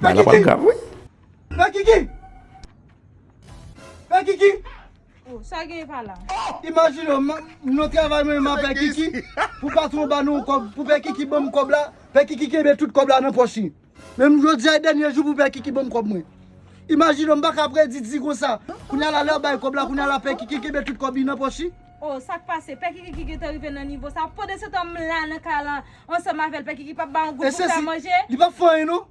Bagay la pral grav wi. Pè Kiki! Pè Kiki! Oh, sa gen epa la? Oh! Imajine w, nou travay mwen menm ak Pè Kiki, pou patwon ba nou yon kòb, pou Pè Kiki ban m kòb la, Pè Kiki kenbe tout kòb la nan pòch li. Men jodi a e dènye jou pou Pè Kiki ban m kòb mwen. Imajine w, m pa ka predi di konsa. Kounya la lè yo bay kòb la, kounya la Pè Kiki kenbe tout kòb li nan pòch li. Oh sak pase pè kikiki gentan rive nan nivo sa pandansetan m la nan kay lan ansanm avèl pè kiki pap ba yon goute pou fèl manje. Li pap fè anyen non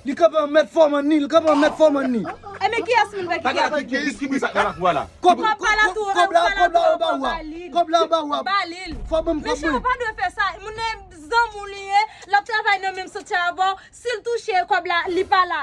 Li kanpe an mèt fòm an ni Li kanpe an mèt fòm an ni. E men kiyès moun pè kiki ap di. Pè kiki ki bri sak la lap wè la. Kòb la kòb la kòb la anba ou a kòb la anba ou a balil fò banm kòb mwen. Mesye ou pa dwe fè sa moun nan e zanmi w li ye lap travay nan menm santye avèw sil touche kòb la li pa la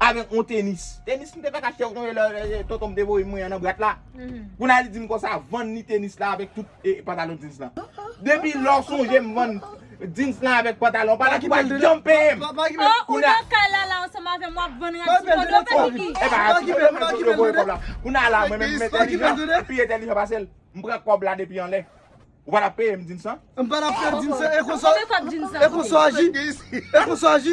avèk yon tenis. Tenis m te fèk achte kote lè tonton m te voye mwen an nan bwat la. Kounye a li di m konsa vann ni tenis la avèk tout pantalon djins lan. Depi lè w sonje m vann djins lan avèk pantalon pa la ki pa janm peye m. Oh ou nan kay la la ansanm avè m wap vann rad sou kò do fè kiki. Epa a kite m mete yo voye kòb la. Kounye a la mwen menm m entèlijan m pi entèlijan pase l. M pran kòb la depi anlè. Ou pa tap peye m djins lan? M pa tap peye djins lan e konsa e konsa w aji? E konsa w aji?